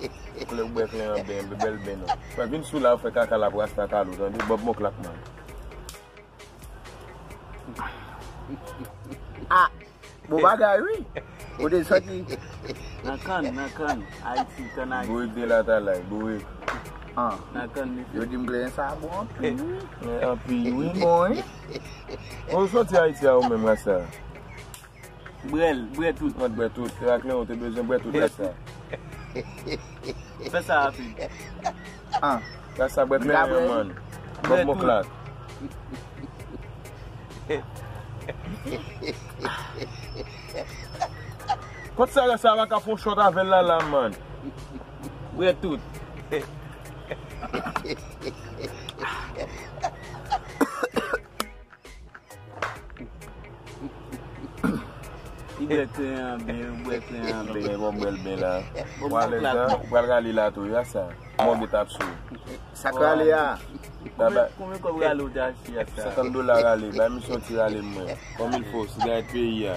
Koulè ou bwè klè an ben, be bèl ben an. Mwen vin sou la ou fè kaka lap rasta talou tande bob mon klak man. Ah! Bon bagay wi! Ou te soti nan kann, nan kann, Ayiti, kann Ayiti. Bourik de latalay, bourik. Ah! Nan kann li. Yo dim kleren sa bon anpi wi. Kleren anpi wi mwen. Bon ou soti Ayiti a ou menm rasta? Brel, brè tout. Mwen t bwè tout. Se raclin ou te bezwen bwè tout rès la. Fè sa rapid. Ah. Rès la bwè plen an yon mòn. Bwè tout. Kot sa rès la paka fon shot avèl la la man. Bwè tout. Li bwè te an byen, li bwè te an byen. Mwen mwen bwèl byen la. Wap lè zan, ou pral rale la tou, ya sa. Mwen mwen tap sou. Sa k rale ya? Koumen kòb rale ou te achte ya sa? 50 dola rale, bay misye yon ti rale mwen. Kòm il fò, sigarèt peyi ya.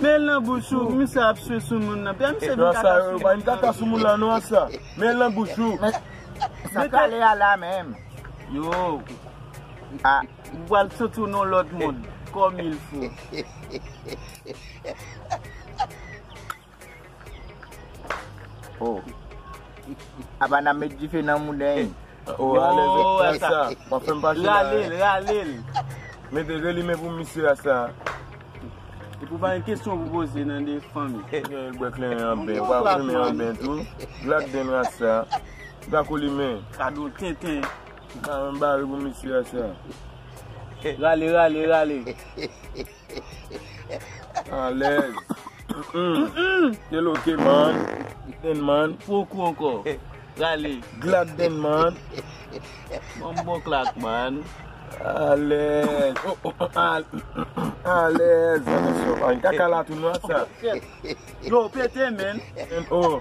Menl nan bouch ou, misye ap swe soumoun nan, pè misye vin kaka soumoun nan. Nan sa yo, pa vin kaka soumoun nan non sa, menl nan bouch ou. Men, sa kale a la menm. Yo, a, ou pral soti w nan lòt mond, kòmilfo. Oh. Abana met dife nan mouden. Oh, ale met fè sa. Mwen fèm pa chè la. Rale l, rale l. Mete rele men pou misye a sa. E pou pa yon kesyon pou boze nan de fanm. E gen yon bwek lè yon ben. Ou pa fèm yon ben tou. Glak den ras sa. Ou pa koli men. Kado tenten. Ou pa yon bare pou misye a sa. Rale, rale, rale. Alèz Del ok man Den man Fo kou ankò Rale Glad Den man Banm bon klak man Alèz Alèz An kaka la tou nwa sa Yo pete men Oh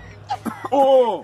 Oh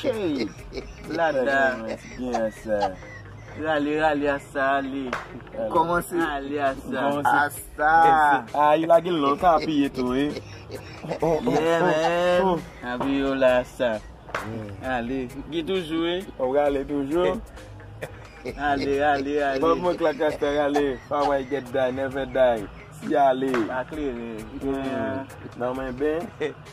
Cheyy lada Rale rale asa ale Kòmanse ale asa Asa A yi lage l la ou ka apiye tou wi Yeah man Apiye yo la asa Ale Ki toujou wi Ou rale toujou Ale ale ale Banm yon klak asa rale Pa wè y get die never die Siyale Pa klere Nan mwen ben